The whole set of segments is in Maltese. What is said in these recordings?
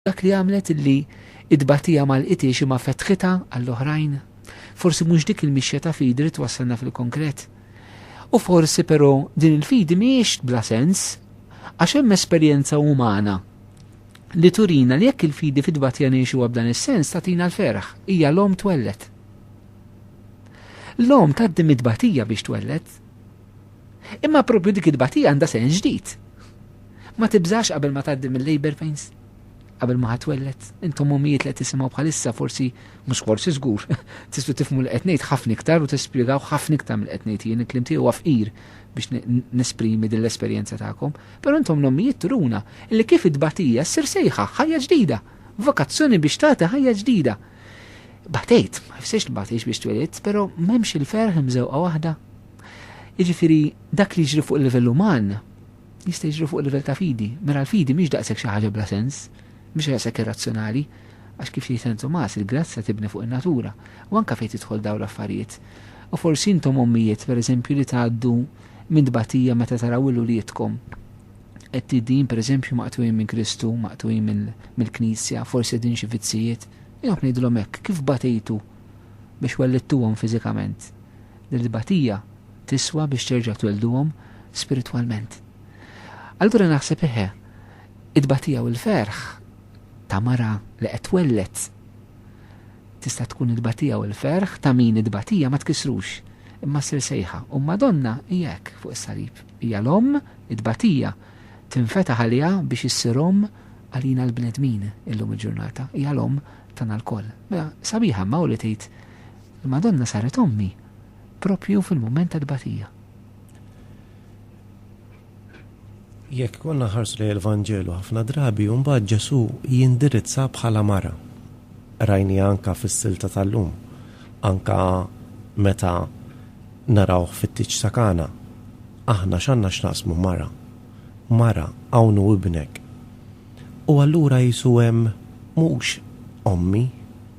Dak li għamlet illi t-tbatija ma lqitiex imma fetħitha għall-oħrajn. Forsi mhux dik il-mixja ta' fidi li twassalna fil-konkret. U forsi però din il-fidi mhijiex bla sens, għax hemm esperjenza umana li turina li jekk il-fidi fit-tbatija ngħixuha b'dan is-sens tagħtina l-ferħ, hija l-omm twelled. L-omm tgħaddi mit-tbatija biex twelled. Imma proprju dik it-tbatija għandha sehem ġdid. Ma tibżax qabel ma tgħaddi mill-labor pains, qabel ma ħatwelled. Intom ommijiet li qed tisimgħu bħalissa forsi mhux forsi żgur, tistgħu tifhmu li qed ngħid ħafna iktar u tispjegaw ħafna iktar mill qed ngħid jien, il-kliem tiegħi huwa fqir biex nesprimi din l-esperjenza tagħkom. Però intom l-ommijiet turuna li kif it-tbatija ssir sejħa ħajja ġdida, vokazzjoni biex tagħti ħajja ġdida. Batejt, ma jfsirx li batejx biex twelidt, però m'hemmx il-ferħ mżewqa waħda Jiġifieri dak li jiġri fuq il-livell uman jista' jiġri fuq il-livell ta' fidi. Mela l-fidi mhix daqshekk xi ħaġa bla sens, mhix daqshekk irrazzjonali, għax kif jgħid San Tumas, il-grazzja tibni fuq in-natura, u anke fejn tidħol dawn l-affarijiet. U forsi intom ommijiet, pereżempju, li tgħaddu minn tbatija meta taraw lil uliedkom qed per eżempju maqtujin minn Kristu, maqtujin mill-Knisja, forsi din xi vizzijiet, jgħu ngħidilhom hekk, kif batejtu biex wellidtuhom fiżikament, din it-tbatija tiswa biex terġa' twellduhom spiritwalment. Allura naħseb eħe, it-tbatija u l-ferħ ta' mara li qed twelled tista' tkun it-tbatija u l-ferħ ta' min it-tbatija ma tkissrux, imma ssir sejħa. U l-Madonna hija hekk fuq is-salib. Hija l-Omm, it-tbatija tinfetaħ għaliha biex issir Omm għalina l-bnedmin illum il-ġurnata. Hija l-Omm Tagħna lkoll. Mela, sabiħa imma hu li tgħid, Il-Madonna saret ommi proprju fil-mument tat-tbatija. Jekk konna nħarsu lejn il-Vanġelu ħafna drabi u mbagħad Ġesù jindirizza bħala mara. Rajniha anke fis-silta tal-lum, anke meta narawh fit-tieġ ta' Kana. Aħna x'għandna x'naqsmu mara? Mara, hawn hu ibnek. U allura qisu hemm mhux ommi,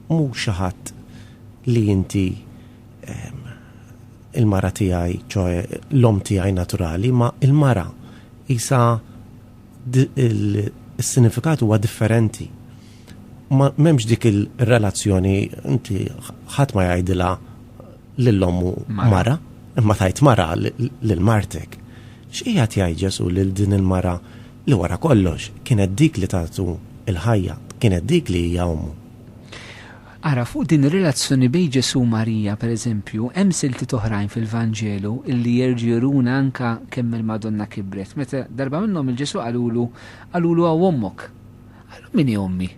mhux xi ħadd li inti il-mara tiegħi, ċoe l-omm tiegħi naturali, ma il-mara qisha il-sinifikat huwa differenti. Ma m'hemmx dik il-relazzjoni inti ħadd ma jgħidilha lil ommu mara, imma tgħid mara lil martek. X'qiegħed jgħid Ġesù lil din il-mara li wara kollox kienet dik li tatu l-ħajja, kienet dik li hija ommu. Ara, fuq din ir-relazzjoni bejn Ġesù u Marija, per eżempju, hemm siltiet oħrajn fil-Vanġelu illi jerġgħu juruna anke kemm il-Madonna kibret. Meta darba minnhom il-Ġesù qalulu, qalulu hawn ommok. Qalu min hi ommi?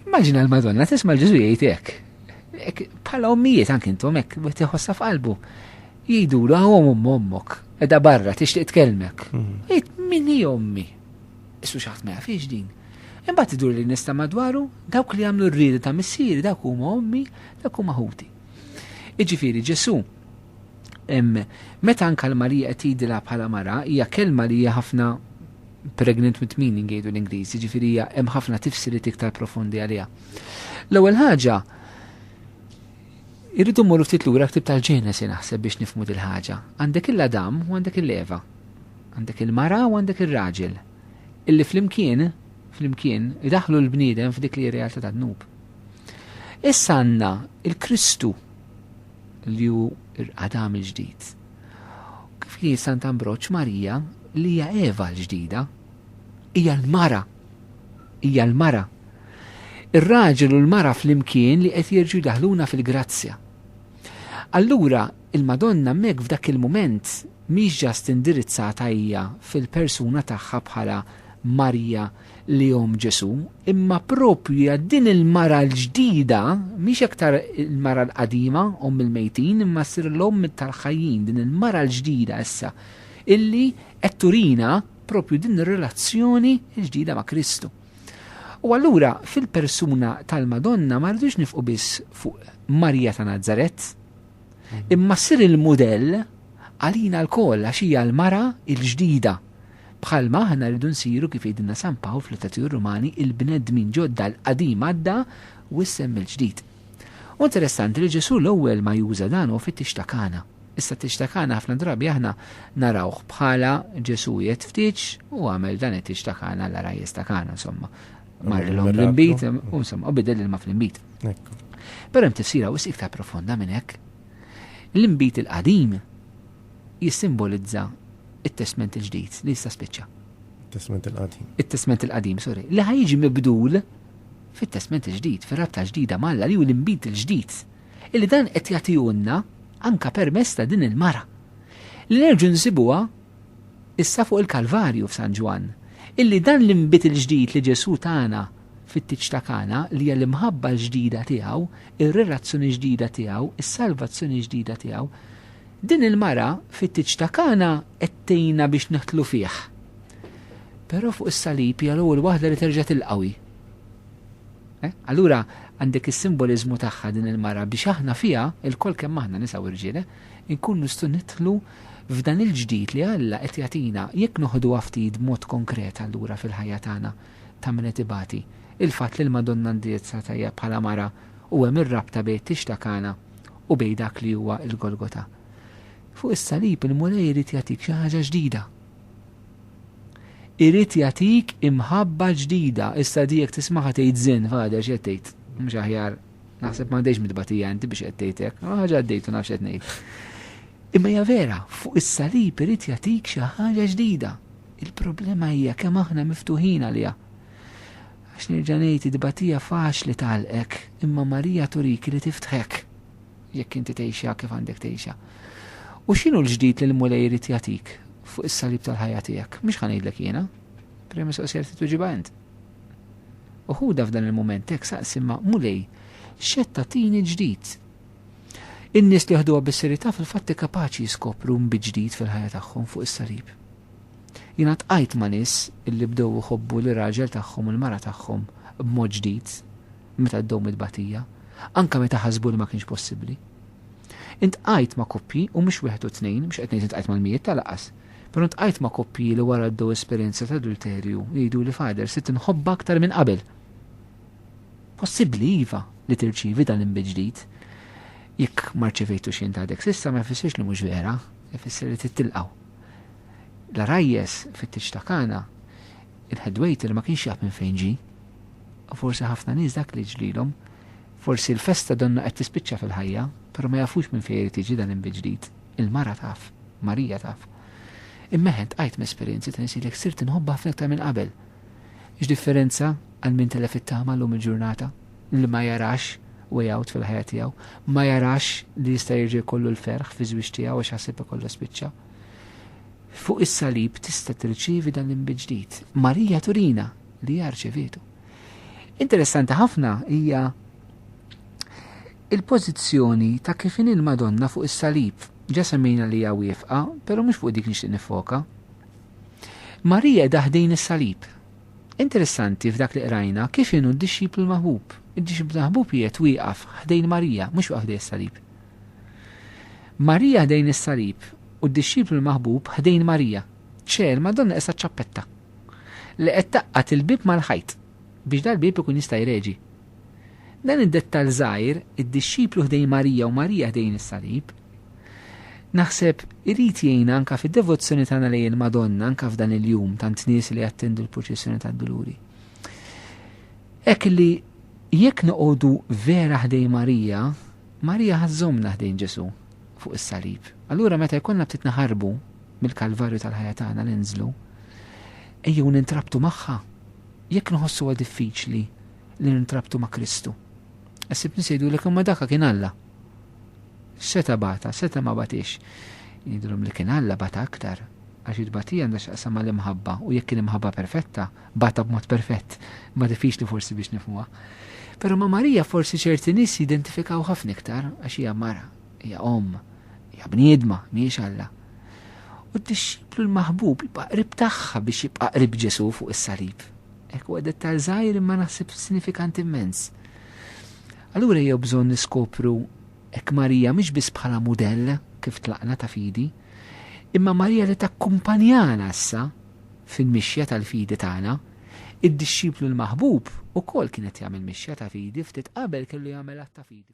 Immaġina l-Madonna tisma' l-Ġesù jgħid hekk. Bħala ommijiet anke intom hekk, wieħed iħossha f'qalbu. Jgħidulu hawn omm ommok, edha barra tixtieq tkellmek. Jgħid min hi ommi? Issu xi ħadd ma jafhiex din. Imbagħad idur li nista' madwaru, dawk li jagħmlu r-rieda ta' missieri dawk huma ommi, dawk huma ħuti. Iġifieri Ġesù meta anka l-Marija qed jgħidilha bħala mara hija kelma li hija ħafna pregnant with meaning jgħidu l-Ingliż, jiġifieri hemm ħafna tifsiriet iktar profondi għaliha. L-ewwel ħaġa Irridu mmorru ftit lura l-ktieb tal-Ġenesi naħseb biex nifhmu dil-ħaġa. Għandek il-Adam u għandek il-Eva. Għandek il-mara u għandek ir-raġel. Illi flimkien, flimkien, idaħħlu l-bniedem f'dik li hi realtà tad-dnub. Issa għandna il-Kristu li hu Adam il-ġdid. Kif li Sant Ambroċ Marija li hija Eva l-ġdida, hija l-mara Hija l-mara. Ir-raġel u l-mara flimkien li qed jerġgħu jdaħħluna fil-grazzja. Allura, il-Madonna hemmhekk f'dak il-mument mhix ġast indirizzata hija fil-persuna tagħha bħala Marija li omm Ġesù, imma proprju hija din il-mara l-ġdida, mhix aktar il-mara l-qadima, omm il-mejtin, imma ssir l-omm tal-ħajjin, din il-mara l-ġdida issa, illi qed turina propju din ir-relazzjoni l-ġdida ma' Kristu. U allura fil-persuna tal-Madonna ma rridux nifqu biss fuq Marija ta' Nazaret, imma ssir il-mudell għalina l-koll għax hija l-mara il-ġdida. Bħal maħna rridu nsiru kif jgħidilna San Pawl fl-Itatiju Rumani il-bnedmin ġodda l-qadim għadda u issem il-ġdid. U interessanti li Ġesu l-ewwel ma juża dan u fittix ta' kana. Is-satix ta' Kana ħafna drabi aħna narawh bħala Ġesù jgħid ftit u għamel dan it-tix ta' Kana l-għarajjes ta' Kana insomma. Marrilhom l-inbid u insomma u bidel ilma fl-inbid. Però hemm tifsira wisq iktar profonda minn hekk. L-inbid il-qadim jissimbolizza it-testment il-ġdid li jista' spiċċa. Testment il-qadim. It-testment il-qadim, sorry. Li ħajġi mibdul fit-testment il-ġdid, fir-rabta ġdida malla li hu l-inbid il-ġdid. illi dan qed jagħtihulna anke permezz ta' din il-mara li nerġgħu nsibuha issa fuq il-Kalvarju f'San Ġwann, illi dan l-inbid il-ġdid li Ġesù tana fit-tieġ ta' Kana li hija l-imħabba l-ġdida tiegħu, ir-relazzjoni ġdida tiegħu, is-salvazzjoni ġdida tiegħu, din il-mara fit-tieġ ta' Kana qed tgħinna biex nidħlu fih. Però fuq is-salib hija l-ewwel waħda li terġa' tilqawi. Allura għandek is-simboliżmu tagħha din il-mara biex aħna fiha, ilkoll kemm aħna nisa u rġiel, inkunu nistgħu nidħlu f'dan il-ġdid li Alla qed jagħtina jekk noħduha ftit b'mod konkret allura fil-ħajja tagħna ta' min qed ibati. Il-fatt li l-Madonna indirizzata hija bħala mara u hemm ir-rabta bejn it-tix ta' Kana u bejn dak li huwa l-Golgota. Fuq is-salib il-Mulej irid jagħtik xi ħaġa ġdida. Irid jagħtik imħabba ġdida. Issa di jekk tismagħha tgħid żin, Father x'qed tgħid? Mhux aħjar naħseb m'għandejx mitbatija inti biex qed tgħid hekk. Ħaġa għaddejt u nafx qed ngħid. Imma hija vera, fuq is-salib irid jagħtik xi ħaġa ġdida. Il-problema hija kemm aħna miftuħin għaliha. Għax nerġa' ngħid id-batija faċli tagħlqek, imma Marija turik li tiftħek. jekk inti tgħixha kif għandek tgħixha. U x'inhu l-ġdid li l-Mulej irid jagħtik fuq is-salib tal-ħajja tiegħek? Mhux ħa ngħidlek jiena. Prima soqsija li tuġibha int. U ħuda f'dan il-mument hekk saqsi ma' Mulej, xetta tini ġdid. In-nies li ħduha bis-serjetà fil-fatti kapaċi jiskopru mbiġdid fil-ħajja tagħhom fuq is-salib. Jiena tqajt ma' nies illi bdew iħobbu li raġel tagħhom u l-mara tagħhom b'mod ġdid meta ddum it-tbatija, anke meta ħasbu li ma kienx possibbli. Intqajt ma' koppji, u mhux wieħed u tnejn, mhux qed ngħid intqajt mal-mijiet ta' lanqas, però ntqajt ma' koppji li wara għaddew esperjenza ta' adulterju jgħiduli Father, sirt inħobbha aktar minn qabel. Possibbli, iva, li tirċievi dan l-inbid ġdid. Jekk ma rċevejtux int għadek s'issa ma jfissirx li mhux vera, ifisser li trid tilqgħu. L-għarajjes fit-tieġ ta' Kana Il-head waiter ma kienx jaf minn fejn ġie. U forsi ħafna nies dak li ġrielhom. Forsi l-festa donnha qed tispiċċa fil-ħajja, però ma jafux minn fejn irid jiġi dan l-inbi-ġdid. Il-mara taf. Marija taf. Imma eħe, tqajt ma' esperjenzi ta' nies jgħidlek sirt inħobbha ħafna iktar minn qabel. X'differenza għal min telef it-tama llum il-ġurnata, li ma jarax way out fil-ħajja tiegħu, ma jarax li jista' jerġa' jkollu l-ferħ fiż-żwieġ tiegħu għax ħaseb ikollha spiċċa. Fuq is-salib tista' tirċievi dan l-imbiġdid. Marija turina li hija rċevietu. Interessanti ħafna hija il-pożizzjoni ta' kif in il-Madonna fuq is-salib. Ġa semmejna li hija wiefqa, però mhux fuq dik nixtieq nifoka. Marija daħdin is-salib. Interessanti f'dak li qrajna kif inhu d-dixxiplu l-maħbub. Id-dixxiplu l-maħbub qiegħed wieqaf ħdejn Marija, mhux waqaf ħdejn is-salib. Marija ħdejn is-salib u d-dixxiplu l-maħbub ħdejn Marija. Ċe, il-Madonna qiesha ċ-ċappetta li qed tgħaqqad il-bieb mal-ħajt biex dal-bieb ikun jista' jreġi. Dan id-dettall żgħir, id-dixxiplu ħdejn Marija u Marija ħdejn is-salib, naħseb irid jgħinna anke fid-devozzjoni tagħna lejn il-Madonna anke f'dan il-jum tant nies li jattendu l-purċissjoni tad-Duluri. Hekk li Jekk noqogħdu vera ħdejn Marija, Marija ħa żżommna ħdejn Ġesù fuq is-salib. Allura meta jkollna ftit naħarbu mill-kalvarju tal-ħajja tagħna ninżlu, ejjew nintrabtu magħha. Jekk nħossuha diffiċli li nintrabtu ma' Kristu, ħsibni se jgħidulek imma dak kien Alla. Seta' bata, seta' ma batix. Jgħidulhom li kien Alla bata aktar, għax it-tbatija għandha x'taqsam mal-imħabba u jekk kien imħabba perfetta, Bata b'mod perfett, imma diffiċli forsi biex nifhmuha. Però ma' Marija forsi ċerti nies jidentifikaw ħafna iktar għax hija mara, hija omm, hija bniedma, mhijiex Alla. U d-dixxiplu l-maħbub jibqa' qrib tagħha biex jibqa' qrib Ġesù fuq is-salib. Hekk huwa dettal żgħir imma naħseb sinifikant immens. Allura jew bżonn niskopru hekk Marija mhix biss bħala mudell kif tlaqna ta' fidi, imma Marija li takkumpanjana issa fil-mixja tal-fidi tagħna. Id-dixxiplu l-maħbub ukoll kien qed jagħmel mixja ta' fidi, ftit qabel kellu jagħmel att ta' fidi.